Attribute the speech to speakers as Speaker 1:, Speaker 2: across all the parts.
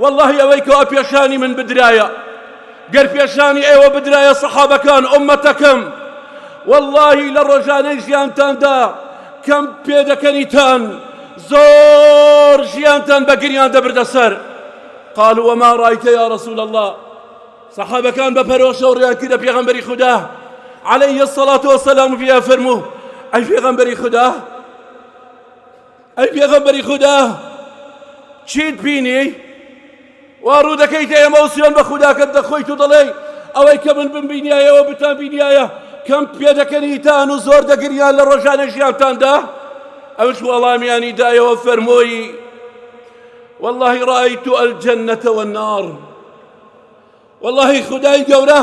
Speaker 1: وەڵڵاهی ئەوەی کەوا پێشانی من بدرایە گەر پێشانی ئێوە بدرایە سەحابەکان ئۆمەتەکەم واللهی لە ڕۆژانەی ژیانتاندا کەم پێدەکەنیتان زۆر ژیانتان بە گریان دەبردە سەر قال وما ڕایتە یا رسول الله سەحابەکان بە پەرۆشە و ڕیان کردە پێغەمبەری خوددا عليه الصلاة والسلام فيها فرموه أي في غنبري خداه ئەی پێغەمبەری خودا چیت بینی وا ڕوو دەکەیتە ئێمە و سوێن بە خوداکەت دەخۆیت و دەڵێی ئەوەی کە من بمبینایەوە بتان بینایە کەم پێ دەکەنیتان و زۆر دەگریان لە ڕۆژانە ژیانتاندا ئەوش وەڵامیانی دایەوە فەرمۆیی والله رأيت الجنة والنار وەڵاهی خودای گەورە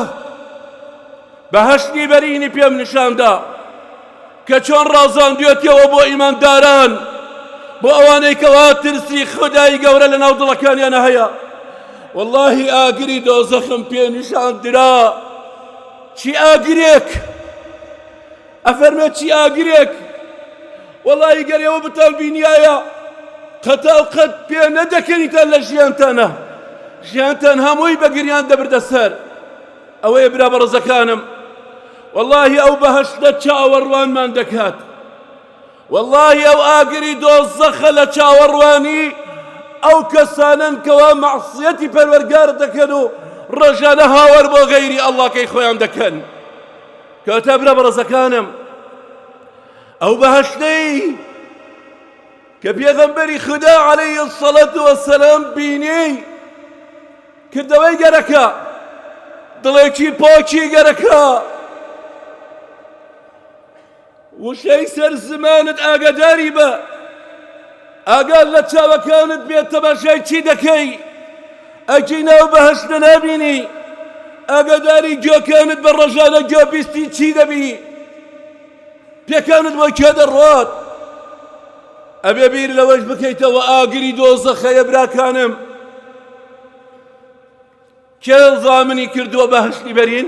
Speaker 1: بەهەشتی بەرینی پێم نیشاندا کە چۆن ڕازاندوێتیەوە بۆ ئیمانداران بۆ ئەوانەی کەوا ترسی خودای گەورە لە ناو دڵەکانیانە هەیە واللهی ئاگری دۆزەخم پێ نیشان درا چی ئاگرێک ئەفەرمێ چی ئاگرێک؟ وەڵایی گەر ئێوە بتان بینیایە قەتا و قەت پێ نەدەکەنیتان لە ژیانتانە ژیانتان هەمووی بە گریان دەبردە سەر ئەوەیە برا بەڕزەکانم واللهی ئەو بەهشتە چاوەڕوانمان دەکات واللهی ئەو ئاگری دۆزەخە لە چاوەڕوانی ئەو کەسانن کەوا مەعسیەتی پەروەرگار دەکەن و ڕژانە هاوار بۆ غەیری ئەڵاکەی خۆیان دەکەن کەواتە برا بەڕەزەکانم ئەو بەهشتەی کە پێغەمبەری خدا عەلەیە سەڵەت وەسەلام بینێی کردەوەی گەرەکە دڵێکی پاکی گەرەکە وشەی سەر زمانت ئاگاداری بە ئاگات لە چاوەکانت بێت تەماشای چی دەکەی ئەکی ناو بەهەشتە نابینی ئاگاداری گوێکانت بە ڕۆژانە گوێ بیستی چی دەبی پێکانت بۆ کێ دەڕوات ئەبێ بیر لەوەش بکەیتەوە ئاگری دۆزەخەیە براکانم کێ زامنی کردووە بەهەشتی بەرین